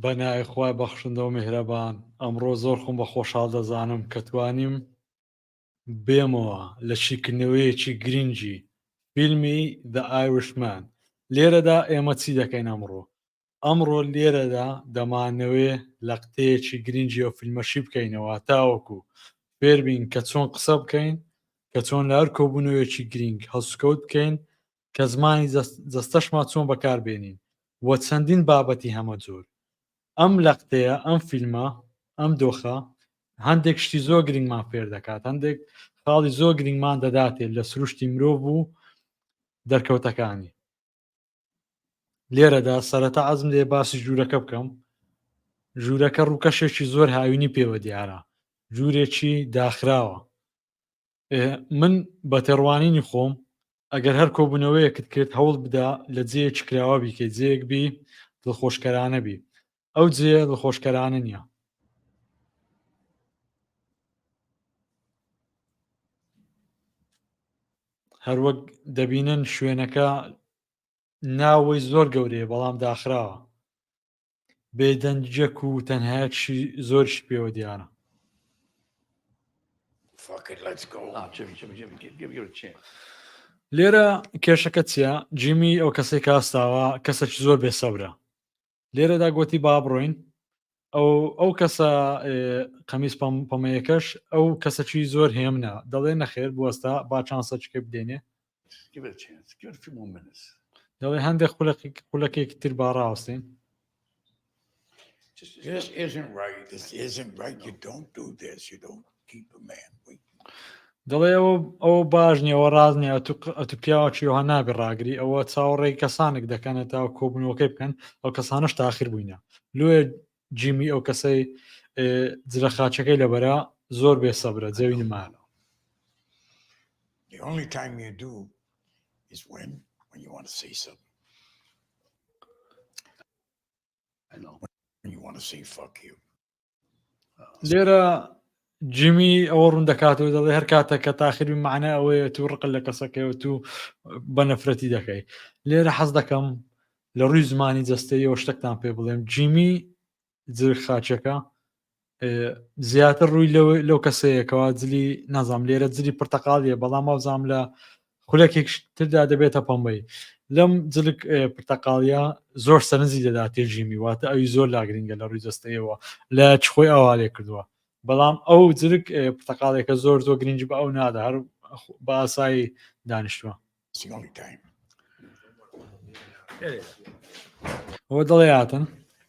بەنای خی بەخشندەوە میهرەبان ئەمڕۆ زۆر خۆم بە خۆشحاڵ دەزانم کە توانیم بێمەوە لە شیکردنەوەیەکی گرنگی فیلمی دە ئایوشمان لێرەدا ئێمە چی دەکەین ئەمڕۆ ئەمڕۆ لێرەدا دەمانەوێ لەقتەیەکی گرنگی ئەو فیلمە شی بکەینەوە تاوەکو فێربین کە چۆن قسە بکەین کە چۆن لە هەر کۆبوونەوەیەکی گرنگ هەڵسوکەوت بکەین کە زمانی جەستەشمان چۆن بەکاربێنین و چەندین بابەتی هەمە جۆر ئەم لەقتەیە ئەم فیلمە ئەم دۆخە هەندێک شتی زۆر گرنگمان فێر دەکات هەندێک خاڵی زۆر گرنگمان دەداتێت لە سروشتی مرۆڤ و دەرکەوتەکانی لێرەدا سەرەتا ئەزم لێ باسی ژوورەکە بکەم ژوورەکە ڕووکەشێکی زۆر هاوینی پێوە دیارە ژوورێکی داخراوە من بە تێڕوانینی خۆم ئەگەر هەر کۆبوونەوەیەکت کرد هەوڵ بدا لە جێیەکی کراوە بیکەیت جێک بی دڵخۆشکەرانە بی ئەو جێ دڵخۆشکەرانە نییە هەروەک دەبینن شوێنەکە ناوەی زۆر گەورەیە بەڵام داخراوە بێدەنجەک و تەنهایەکشی زۆرش پێوە دیارە لێرە کێشەکە چیە جیمی ئەو کەسێک کاستاوە کەسێک زۆر بێسەبرە لێرەدا گوتی با بڕۆین ئەو ئەو کەسە قەمیس پەمەیەکەش ئەو کەسەکی زۆر هێمنە دەڵێ نەخێر بوەستا با چانسەچکە بدێنێ دەڵێ هەندێک خولەکێک تر با ڕاوستین This isn't right. This isn't right. You don't do this. You don't. دەڵێ ئەوە ئەوە باش نیەوە ڕاز نیە ئەتو پیاوەکیەوە نابێ ڕاگری ئەوە چاوەڕێی کەسانێک دەکەنە تا کۆبنەوەکەی بکەن ئەو کەسانش تاخیر بووینە لێ جیمی ئەو کەسەی جرە خاچەکەی لەبەرە زۆر بێ سەبرە جەوی نمانە The only time you do is when when you want to say something. I know. When you want to say fuck you. لێرە جیمی ئەوە ڕوون دەکاتەوە دەڵێ هەر کاتە کە تاخری معنە ئەوەیە تو ڕق لە کەسەکەەوە تو بە نەفرەتی دەکەی لێرە حەز دەکەم لە ڕووی زمانی جەستەیەوە شتێکتان پێ بڵێم جیمی جل خاچەکە زیاتر ڕووی لەو کەسەیەکەوە جلی نازام لێرە جلی پرتەقاڵیە بەڵام ماوزام لە خولەکێکش تردا دەبێتە پەمبەی لەم جلک پرتەقاڵیا زۆر سەرنجی دەدا تێژیمی واتە ئەوی زۆر لاگرنگە لە ڕووی جستەیەوە لە چخۆی ئاوا لێ کردووە بەڵام ئەو جلک پرتەقالێکە زۆر زۆر گرنج بە ئەو نادا هەر باسایی دانیشتووە ئەوە دڵێ هاتن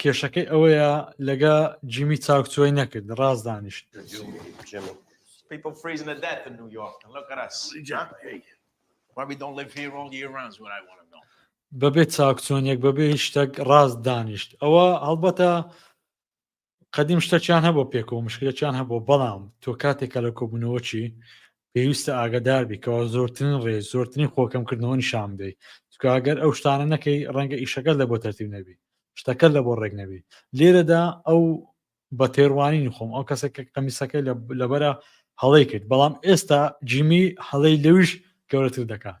کێشەکەی ئەوەیە لەگە جیمی چاوکچۆی نەکرد ڕاز دانیشت بەبێ چاکچۆنیەک بەبێ هیچ شتێک ڕاست دانیشت ئەوە هەڵبەتە قدیم شتەکیان هەبوو پێکۆ مشکلەکیان هەبوو بەڵام تۆ کاتێکە لە کۆبوونەوەچی پێویستە ئاگادار بیکەوە زۆرترین ڕێ زۆرترین خۆکەم کردنەوە نیشان بدەیت تکگەر ئەو شتانە نەکەی ڕەنگە ئیشەکە لە بۆ تەرتیب نەبی شتەکە لە بۆ ڕێک نەبی لێرەدا ئەو بە تێڕوانینی خۆم ئەو کەسێک کە قەمیسەکەی لەبەرە هەڵی کرد بەڵام ئێستا جیمی هەڵی لەویش گەورەتر دەکات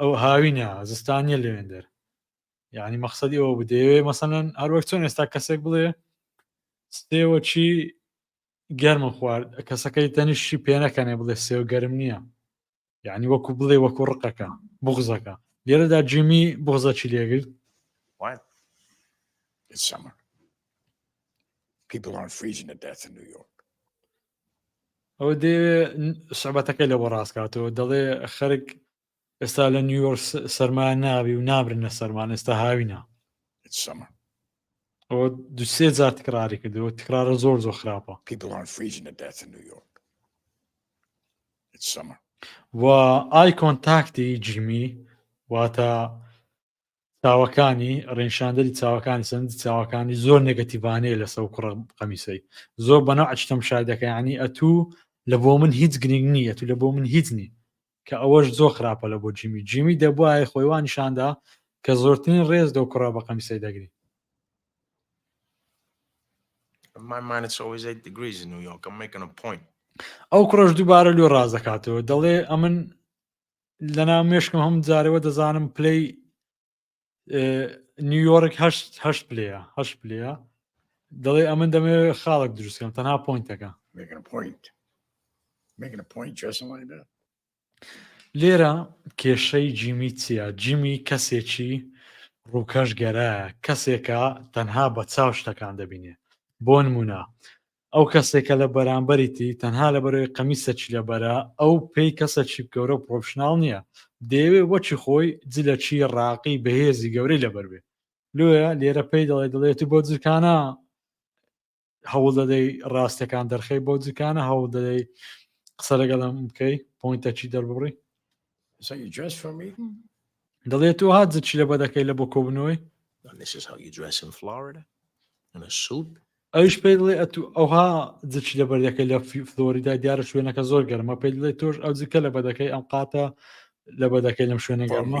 ئەو هاوینە زستانیە لەوێندەر یعنی مەخصدی ئەوە بدەوێ مەسەەن هەروەک چۆن ئێستا کەسێک بڵێ سێوە چی گەرم خوارد کەسەکەی تەنیشی پێنەکەنێ بڵێ سێو گەرم نییە یعنی وەکو بڵێ وەکو ڕقەکە بغزەکە لێرەدا جیمی بغزە چی لێگرت It's summer. People aren't freezing to death in New York. ئەوە دەیەوێ سەبەتەکەی لە بۆ ڕاستکاتەوە دەڵێ خەرک ئێستا لە نیویۆرک سەرما ناوی و نابرنە سەرمان ئێستا هاوینە سەما ئەوە دوسێ جار تکراری کردەوە تکرارە زۆر زۆر خراپە پیبڵان فریژ نەداتە نیویۆرک سەما و ئای کۆنتاکتی جیمی واتە چاوەکانی ڕێنشاندەری چاوەکانی سندی چاوەکانی زۆر نگەتیڤانەیە لە سەو کوڕم قەمیسەی زۆر بەنە ئەچتەم شایدەکەیانی ئەتوو لە بۆ من هیچ گرنگ نییە تو لە بۆ من هیچ نی کە ئەوەش زۆر خراپە لە بۆ جیمی جیمی دەبواە خۆیوان نیشاندا کە زۆرترین ڕێز دەو کوڕا بە قەمیسەی دەگری my mind is always 8 degrees in New York. I'm making a point. ئەو کوڕش دووبارە لۆ ڕاز دەکاتەوە دەڵێ ئەمن لەنا مێشکم هەم جارەوە دەزانم پلەی نیویۆرک هەشت هەشت پلەیە هەشت پلەیە دەڵێ ئەمن دەمێ خاڵک دروستکەم تەنها پوینتەکە لێرە کێشەی جیمی چیە جیمی کەسێکی ڕووکەش گەرایە کەسێکە تەنها بە چاو شتەکان دەبینێ بۆ نمونە ئەو کەسێک کە لە بەرامبەریتی تەنها لە بەرەوەی قەمیسە چلە بەرە ئەو پێی کەسە چیپ گەورە و پرۆفشناڵ نییە دەیەوێ وەچی خۆی جلە چی ڕاقی بەهێزی گەورەی لەبەربێ لۆیە لێرە پێی دەڵێ دڵێتی بۆ جلکانە هەوڵ دەدەی ڕاستەکان دەرخەی بۆ جلکانە هەوڵ دەدەی قسە لەگەڵم بکەی پوینتەکی دەربڕی دەڵێت تۆ هات زچی لە بەدەکەی لە بۆ کۆبنەوەی ئەوش پێ دڵێ ئەتو ئەوها زچی لە بەردەکە لە فلۆریدا دیارە شوێنەکە زۆر گەرمە پێ دڵێ تۆش ئەو زکە لە بەدەکەی ئەم قاتە لە بەدەکەی لەم شوێنە گەرمە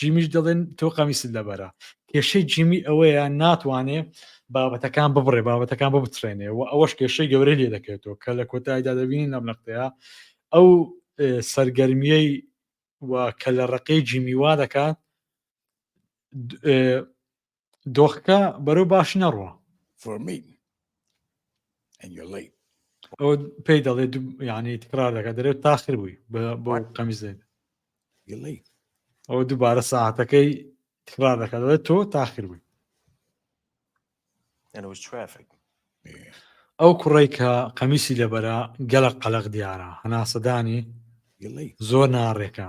جیمیش دەڵێن تۆ قەمیست لەبەرە کێشەی جیمی ئەوەیە ناتوانێ بابەتەکان ببڕێ بابەتەکان ببترێنێ و ئەوەش کێشەی گەورە لێ دەکەێتەوە کە لە کۆتاییدا دەبینین لەم نەختەیە ئەو سەرگەرمیەی و کە لە ڕقی جیمی وا دەکات دۆخەکە بەرەو باش نەڕوە ئەو پێی دەڵێ ینی تکرار دەکە دەرێت تاخر بووی بۆ قەمیز دێت ئەو دووبارە ساعتەکەی تکرار دەکە دەڵێت تۆ تاخر بووی ئەو کوڕی کە قەمیسی لەبەرە گەلە قەلق دیارە هەناسەدانی زۆر ناڕێکە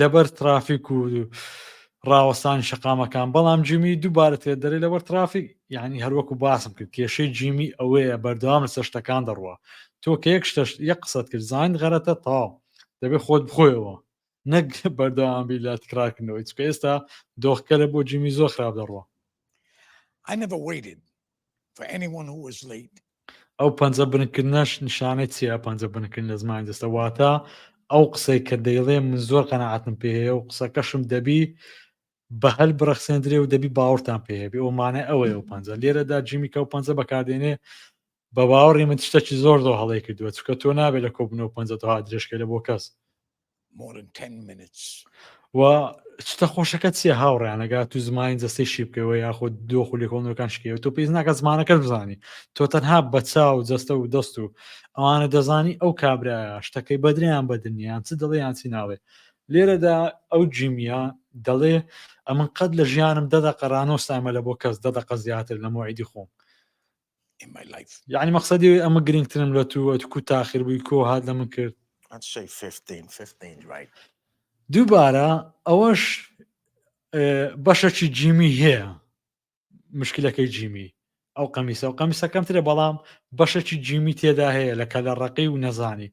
لەبەر ترافیک و ڕاوەستان شقامەکان بەڵام جیمی دووبارە تێ دەری لەبەر ترافیک یعنی هەروەکو باسم کرد کێشەی جیمی ئەوەیە بەردەوام لە سەشتەکان دەڕوە تۆ کە یەک شتەش یەک قسەت کرد زانین غەرەتە تاو دەبێت خۆت بخۆیەوە نەک بەردەوامی لە تکراکردنەوەی چکە ئێستا دۆخکەرە بۆ جیمی زۆر خراپ دەڕوە I never waited ئەو پەنجە بنکردنەش نیشانەی چیە پەنجە بنکردن لە زمان دەستە واتە ئەو قسەی کە دەیڵێ من زۆر قەنەعاتم پێ هەیە و قسەکەشم دەبی بە هەل بڕەخسێندرێ و دەبی باوەڕتان پێهێبێ ئەومانە ئەوەیە و پەنجە لێرەدا جیمی کە و پەنجە بەکاردێنێ بە باوەڕی من تشتەکی زۆر زۆر هەڵی کردووە چکە تۆ نابێت لە کۆبنەوە پەنجە تۆها درێژکە لە بۆ کەس و چتە خۆشەکە چیە هاوڕیانەگا تو زمانی جەستەی شی بکەوە یاخود دۆ خو لێکۆڵنەکان شکەوە تۆ پێیز ناکە زمانەکە بزانی تۆ تەنها بەچا و جەستە و دەست و ئەوانە دەزانی ئەو کابرا شتەکەی بەدریان بەدنیان چ دڵیان چی ناڵێ لێرەدا ئەو جیمیا دەڵێ ئەمن قەت لە ژیانم دەدە قەرانۆستامە لە بۆ کەس دەدەقە زیاتر لە مۆعیدی خۆم یعنی مەقصدی ئەوی ئەمە گرنگترم لە تو ئەت کو تاخیر بووی کۆ هات لە من کرد دووبارە ئەوەش بەشەکی جیمی هەیە مشکلەکەی جیمی ئەو قەمیسە و قەمیسەکەمترە بەڵام بەشەکی جیمی تێدا هەیە لە کەلە ڕقی و نەزانی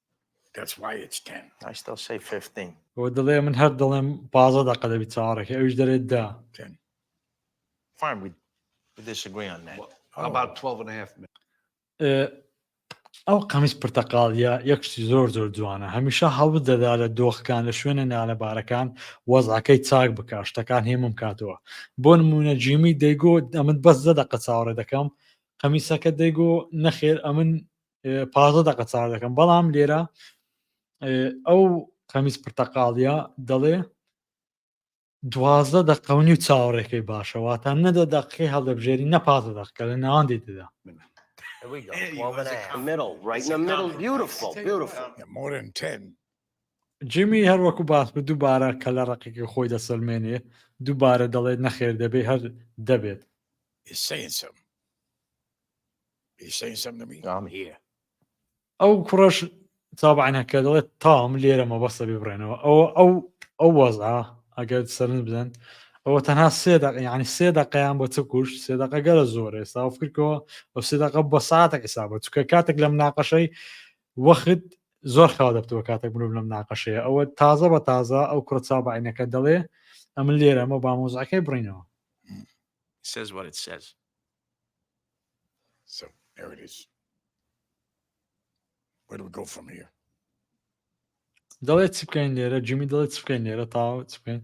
بۆ دڵێ من هەر دڵێم پازە دەقە دەبی چاڕەکە ئەوش دەرێت دا ئەو قەمیس پرتەقاڵە یەکشتی زۆر زۆر جوانە هەمیشە هەڵب دەدا لە دۆخەکان لە شوێنە نالەبارەکان وەزعەکەی چاک بکە شتەکان هێمم کاتەوە بۆ نمونە جیمی دەیگۆ ئەمن بەس زە دەقە چاوەڕێ دەکەم قەمیسەکە دەیگۆ نەخێر ئەمن پازە دەقە چاو دەکەم بەڵام لێرە ئەو قەمیز پرتەقاڵە دەڵێ دوازدە دەقەونی و چاوەڕێکەکەی باشەواتە نەدە دەقی هەڵدەبژێری نەپازە دەقکە لە ناوان دێتدا جیمی هەروەکو باس بە دووبارە کە لە ڕقێکی خۆی دەسەلمێنێ دووبارە دەڵێت نەخێر دەبێت هەر دەبێت ئەو کوڕەش تابعەکە دەڵێت تام لێرە مەبەستە بێ بڕێنەوە ئەوە ئەو ئەو وەزا ئەگەر سەرنج بدەن ئەوە تەنها سێ ینی سێ دەقیان بۆ چە کوشت سێ دەقە گەرە زۆر ئێستا فکرکەوە ئەو سێ دەقە بە ساعتێک حسابە چکە کاتێک لەم ناقەشەی وەخت زۆر خاو دەبتەوە کاتێک مرۆڤ لەم ناقەشەیە ئەوە تازە بە تازە ئەو کوڕ چابعینەکە دەڵێ ئەمن لێرە ئەمە بامۆزعەکەی بڕینەوە سێز وەرت سێز So there it is. Where do we go from here? دەڵێت چ بکەین لێرە جمی دەڵێت چ بکەین لێرە تاوە چ بکەین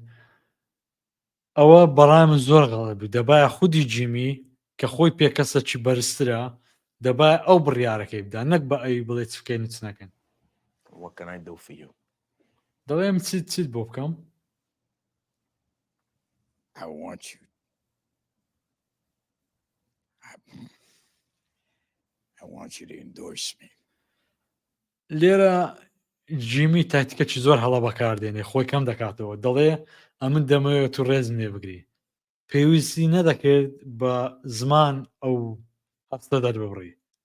ئەوە بەڕای من زۆر غەڵێ بوو دەبایە خودی جیمی کە خۆی پێکەسە چی بەرزترە دەبای ئەو بڕیارەکەی بدا نەک بە ئەوی بڵێ چ بکەین چ نەکەن وەکەنای دەفی دەڵێم چ چ بۆ بکەم I want you لێرە جیمی تاکتیکەکی زۆر هەڵە بەکاردێنێ خۆی کەم دەکاتەوە دەڵێ ئەمن دەمەوێت و ڕێزم لێ بگری پێویستی نەدەکرد بە زمان ئەو هەستە دەربڕی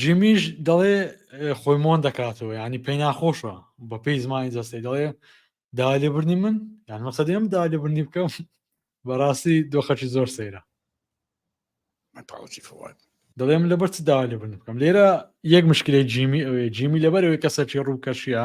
جیمیش دەڵێ خۆی مۆن دەکاتەوە ینی پێی ناخۆشە بە پێی زمانی جەستەی دەڵێ داوای لێبرنی من یان مەسە دێم داوای لێبرنی بکەم بەڕاستی دۆخەکی زۆر سەیرە دەڵێم لەبەر چ داوا لێبرن بکەم لێرە یەک مشکلی جیمی ئەوێ جیمی لەبەرەوەی کەسەکی ڕووکەشیە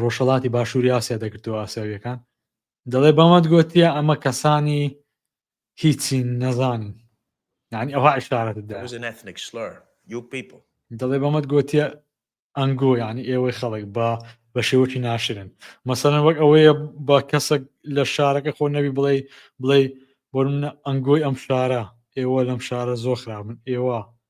ڕۆژهڵاتی باشووری ئاسیا دەگرتەوە ئاسیاویەکان دەڵێ بەمەند گوتیە ئەمە کەسانی هیچی نەزانین یعنی ئەوها عشارەت دەڵێ بەمەند گوتیە ئەنگۆ یعنی ئێوەی خەڵک بە بە شێوەکی ناشرن مەسەن وەک ئەوەیە بە کەسێک لە شارەکە خۆ نەوی بڵێ بڵێ بۆ منە ئەنگۆی ئەم شارە ئێوە لەم شارە زۆر خراپن ئێوە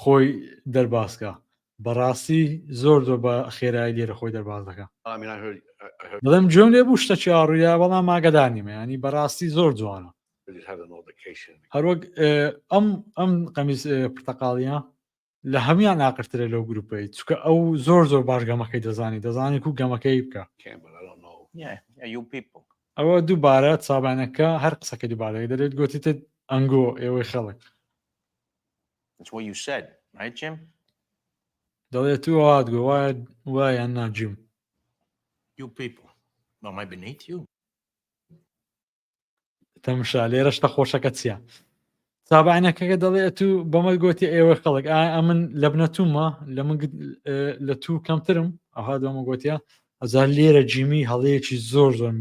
خۆی دەرباز کا بەڕاستی زۆر زۆر بە خێرایی لێرە خۆی دەرباز دەکە بڵم جۆن لێ بوو شتە چاڕوویە بەڵام ماگەدانی مەیانی بەڕاستی زۆر جوانە هەروەک ئەم ئەم قەمیز پرتەقاڵیە لە هەموان ناقرترە لەو گروپەی چکە ئەو زۆر زۆر باش گەمەکەی دەزانی دەزانێت و گەمەکەی بکە ئەوە دووبارە چابانەکە هەر قسەکە دووبارەی دەێت گوتیتت ئەنگۆ ئێوەی خەڵک That's what you said, right, Jim? دەڵێت تو هات گۆ وایە وایە ناجیم You people. Well, my beneath you. تەمشا لێرە شتە خۆشەکە چییە سابانەکەەکە دەڵێ تو بەمە گوتی ئێوە خەڵک ئایا من لە بنەتومە لە من لە تو کەمترم ئەها دەمە گوتە ئەزار لێرە جیمی هەڵەیەکی زۆر زۆر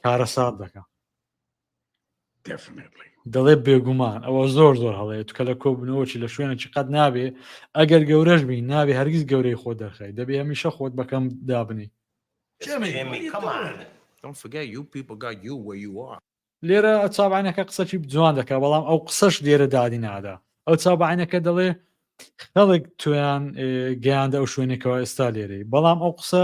کارەسات دەکە دەڵێ بێگومان ئەوە زۆر زۆر هەڵەیە توکە لە کۆبنەوەی لە شوێنێکی قەت نابێ ئەگەر گەورەش بین نابێ هەرگیز گەورەی خۆ دەرخی دەبێ هەمیشە خۆت بەکەم دابنی لێرە چابانەکە قسەکی جوان دەکە بەڵام ئەو قسەش لێرە دادی نادا ئەو چابانەکە دەڵێ خەڵک تویان گەیاندە ئەو شوێنێکەوە ئێستا لێرەی بەڵام ئەو قسە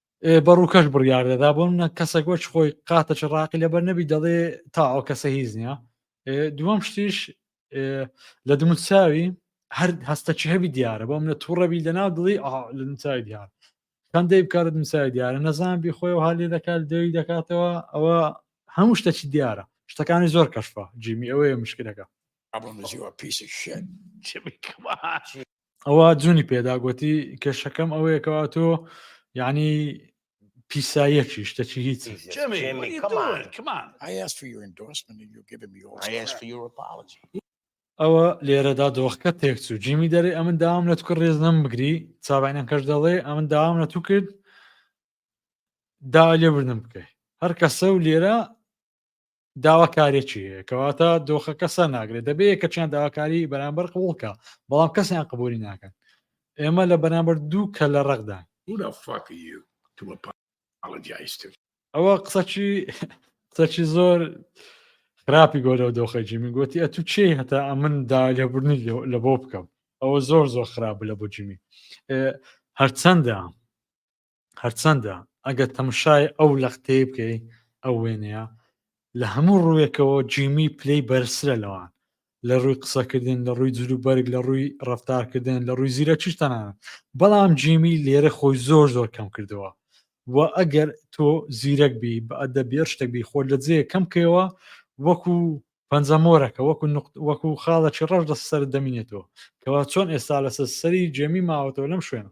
بە ڕووکەش بڕیار دەدا بۆ منە کەسێک وەچ خۆی قاتە چ ڕاقی لەبەر نەبی دەڵێ تا ئەو کەسە هیچ نییە دووەم شتیش لە دموچاوی هەر هەستە چ هەبی دیارە بۆ منە تووڕەبی لەناو دڵی لە دمچوی دیار هەندەی بکارە دمچوی دیارە نەزان بی خۆی و هالی دەکات دەوی دەکاتەوە ئەوە هەموو شتە چی دیارە شتەکانی زۆر کەشفە جیمی ئەوەیە مشکلەکە ئەبوو نزیوە پیسی شێن ئەوە جوونی پێدا گوتی کێشەکەم ئەوەیە کەوا تۆ یعنی پیساییەکی شتەکی هیچ ئەوە لێرەدا دۆخکە تێکچوو جیمی دەری ئەمن داوام لە توکە ڕێز نەم بگری چاوانیان کەش دەڵێ ئەمن داوام لە تو کرد دا لێ بردن بکەی هەر کەسە و لێرە داواکارێکی هەیە کەواتە دۆخەکە سەر ناگرێت دەبێت یەکەچیان داواکاری بەرامبەر قوڵکە بەڵام کەسیان قبولی ناکەن ئێمە لە بەرامبەر دوو کە لە ڕەقدا ئەوە قسەچی قسەچی زۆر خراپی گۆرە و دۆخەجی من گوتی ئە تو چی هەتا ئەمن دا لێبوردنی لە بۆ بکەم ئەوە زۆر زۆر خراپ لە بۆ جیمی هەرچەندە هەرچەندە ئەگەر تەمشای ئەو لەقتەی بکەی ئەو وێنەیە لە هەموو ڕووێکەوە جیمی پلەی بەرزترە لەوان لە ڕووی قسەکردن لە ڕووی جلو بەرگ لە ڕووی ڕفتارکردن لە ڕووی زیرە چیش تەنانە بەڵام جیمی لێرە خۆی زۆر زۆر کەم کردەوە و ئەگەر تۆ زیرەک بی بە ئەدە بێر شتێک بی خۆ لە جێ کەم کەوە وەکو پەنجەمۆرەکە وەکو وەکو خاڵەکی ڕەش لە سەر دەمینێتەوە کەوا چۆن ئێستا لەسەر سەری جێمی ماوەتەوە لەم شوێنە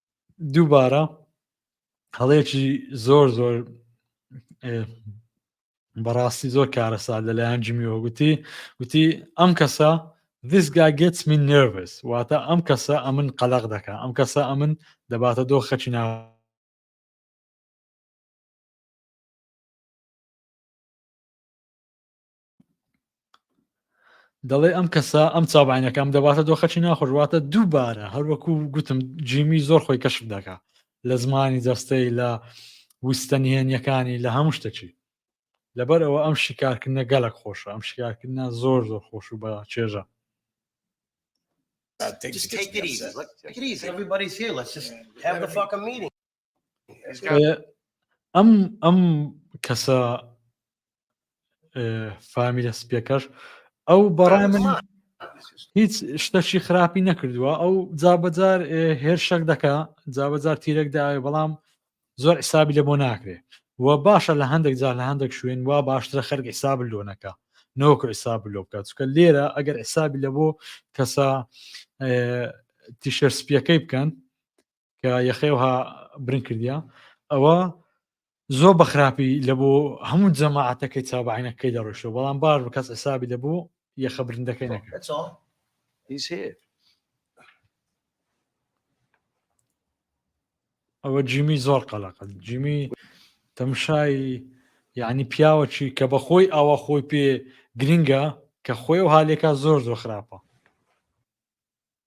دووبارە هەڵەیەکی زۆر زۆر بەڕاستی زۆر کارەسا لەلایەن جمیەوە گوتی گوتی ئەم کەسە this guy gets me nervous واتە ئەم کەسە ئەمن قەلق دەکە ئەم کەسە ئەمن دەباتە دۆ خەچی نا دەڵێ ئەم کەسە ئەم چابعینەکەم دەباتە دۆخەچی ناخۆشواتە دووبارە هەروەکو گوتم جیمی زۆر خۆی کەشف دەکا لە زمانی جەستەی لە وستە نهێنیەکانی لە هەموو شتەچی لەبەر ئەوە ئەم شیکارکردە گەلک خۆشە ئەم شیکارکردە زۆر زۆر خۆش و بە چێژە Just take it easy. Look, take it easy. Everybody here, let's just have the fucking meeting. ئەم ئەم کەسە فامیلە سپیەکەش ئەو بەڕای من هیچ شتەشی خراپی نەکردووە ئەو جابجار هێرشەک دەکا جابجار تیرەک داوێ بەڵام زۆر حسابی لە بۆ ناکرێ و باشە لە هەندێک جار لە هەندێک شوێن وا باشترە خەرک حساب لۆنەکە نۆکە حساب لۆ بکات چکە لێرە ئەگەر حسابی لە بۆ کەسە تیشەر سپیەکەی بکەن کە یەخێوها برن کردیا ئەوە زۆر بە خراپی لە بۆ هەموو جەماعاتەکەی چاوبعینەکەی دەڕۆشەوە بەڵام باش بە کەس حسابی لە بۆ یەخە برندەکەی نەکرد ئەوە جیمی زۆر قەلەقە جیمی تەمشای یعنی پیاوەکی کە بە خۆی ئاوا خۆی پێ گرنگە کە خۆی و هاالێکا زۆر زۆر خراپە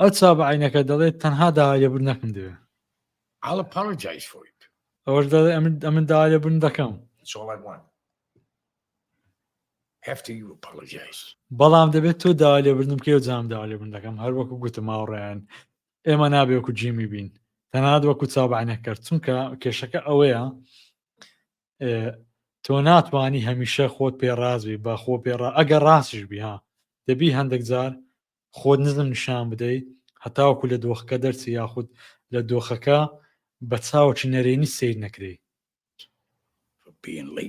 ئەو چا بە عینەکە دەڵێت تەنها داوا لێبوون نەکەم دەوێ ئەوەش دەڵێ ئەمن ئەمن داوا لێبوون دەکەم بەڵام دەبێت تۆ داوا لێبوردن کێ جام داوا لێبوون دەکەم هەر وەکو گوتم هاوڕێیان ئێمە نابێ وەکو جیمی بین تەنات وەکو چاوبانەکرد چونکە کێشەکە ئەوەیە تۆ ناتوانانی هەمیشە خۆت پێ ڕازبی بە خۆ پێ ئەگەر ڕاستش بها دەبی هەندێک جار خۆت نزم نیشان بدەیت هەتاوکو لە دۆخەکە دەرچی یاخود لە دۆخەکە بە چاوکی نەرێنی سیر نەکری بینڵی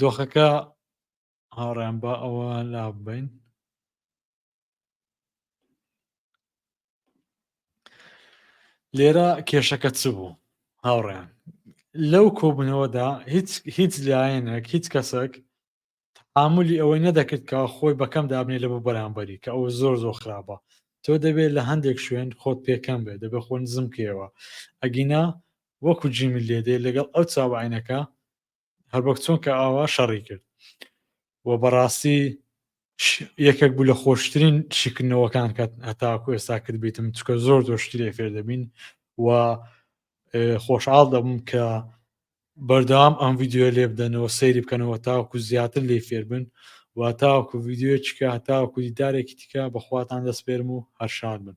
دۆخەکە هاوڕیان بە ئەوە لابین لێرە کێشەکە چ بوو هاوڕیان لەو کۆبوونەوەدا هیچ هیچ لایەنێک هیچ کەسێک ئاملی ئەوەی نەدەکرد کە خۆی بەکەم دابنێ لە بۆ بەرامبەری کە ئەو زۆر زۆر خراپە تۆ دەبێت لە هەندێک شوێن خۆت پێکەم بێت دەبێت خۆ نزم کەوە ئەگینا وەکو جیمی لێدێ لەگەڵ ئەو چاوعینەکە هەر وەک چۆن کە ئاوا شەڕی کرد و بەڕاستی یەکێک بوو لە خۆشترین شیکردنەوەکان کە هەتاکو ئێستا کرد بیتم چکە زۆر زۆر شتی لێ فێر دەبین و خۆشحاڵ دەبم کە بەردەوام ئەم یددیوە لێ بدەنەوە سەیری بکەنەوە تاوەکو زیاتر لێ فێربن و تاوەکو یددیوە چکە هەتاوەکو دیدارێکی تکە بەخواتان دەستپێرم و هەرشار بن